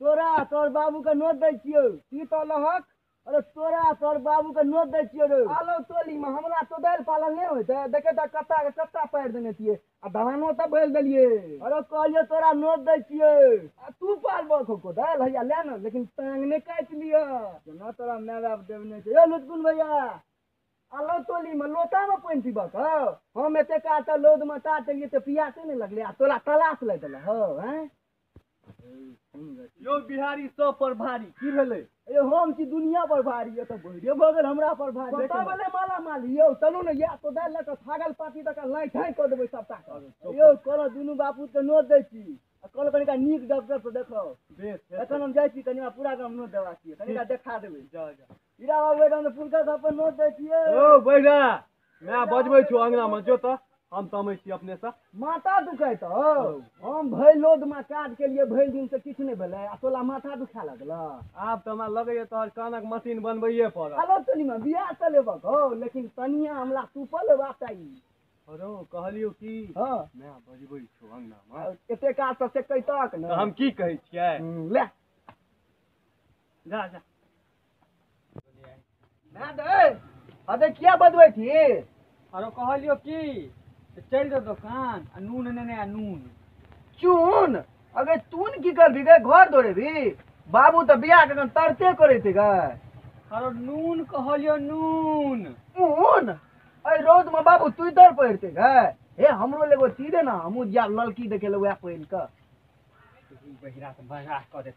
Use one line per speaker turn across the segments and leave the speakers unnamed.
तोरा तोर बाबू के नोत दै छियौ ई तो लहक अरे तोरा तोर बाबू के नोत दै छियौ रे आलो टोली में हमरा तो दाल पालन नहीं होते देखे तो कत्ता के कत्ता पार देने छियै आ धानो तो भर देलिए अरे कहलियो तोरा नोत दै छियौ आ तू पाल बखो को दाल हैया ले ना लेकिन टांग ने काट लियो केना तोरा माय बाप देवने छै ए लुटकुन भैया आलो टोली में लोटा में पानी पीबा के हम एते काट लोद में काट लिए तो पियासे नहीं लगले आ तोरा तलाश लग गेल हो हैं यौ बिहारी सब पर भारी की भेलै ए हम छी दुनिया पर भारी ये तऽ बहिरे भऽ गेल हमरा पर भारी पता भेलै माला माल यौ चलू ने या तो दए लऽ कऽ छागल पाती तक लाइ ठाइ कऽ देबै सबटा के। यौ कहलहुँ दुनू बापू के नोट दै छी आ कहलहुँ कनिका नीक डॉक्टर से देखाउ बेस बेस एखन हम जाइ छी कनि हमरा पूरा गाम नोट देबाक छै कनिका देखा देबै जाओ जाओ हीरा बाबू एकदम फुलका सब पर नोट दै छियै ओ बैरा माय बजबै छौ अङ्गनामे जो तऽ हम तमै छी अपनेसँ माथा दुखाइ तऽ हम भरि लोदमे काज केलियै भरि दिन से किछु नहि भेलै आ तोला माथा दुखा लगल आब तऽ हमरा लगैए तोहर कानक मशीन बनबैए पड़त हेलो तनीमा बियाह तऽ लेबक हौ लेकिन तनिया हमरा सुपल लेबाक चाही अरे कहलियौ की हँ माय बजबै छौ अङ्गनामे एते काज तऽ से कैतक ने हम की कहै छियै ले जा जा ना दे अबे किया बदबै छी अरे कहलियो की तऽ चलि जाउ दोकान आ नून नेने आ नून चून अगे तून की करबी गे घर दौड़ेबी बाबू तऽ बियाह के अखन तरते करै छै गे अरे नून कहलियो नून ऊन अरे रौद में बाबू तू इधर पढ़ते गे हे हमरो लेगो ती दे ना हमू जिया ललकी देखे ले वएह पहिन के बहिरा से बहरा कऽ देत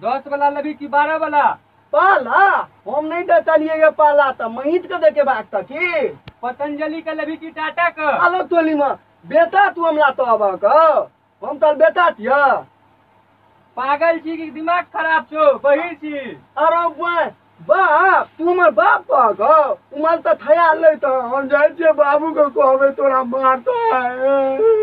दस वाला लेबी कि बारह वाला पाला हम नहीं डटलिए ये पाला तो महीत के देखे बात तक की पतंजलि के लेबी कि टाटा के आलो टोली में बेटा तू हमला तो अब कहो हम तोर बेटा छिया पागल छी कि दिमाग खराब छो बहिर छी अरे बे- बाप तू हमर बाप कह कहो उमर तो थया ले तो हम जाए छिए बाबू को कहबे तोरा मारता है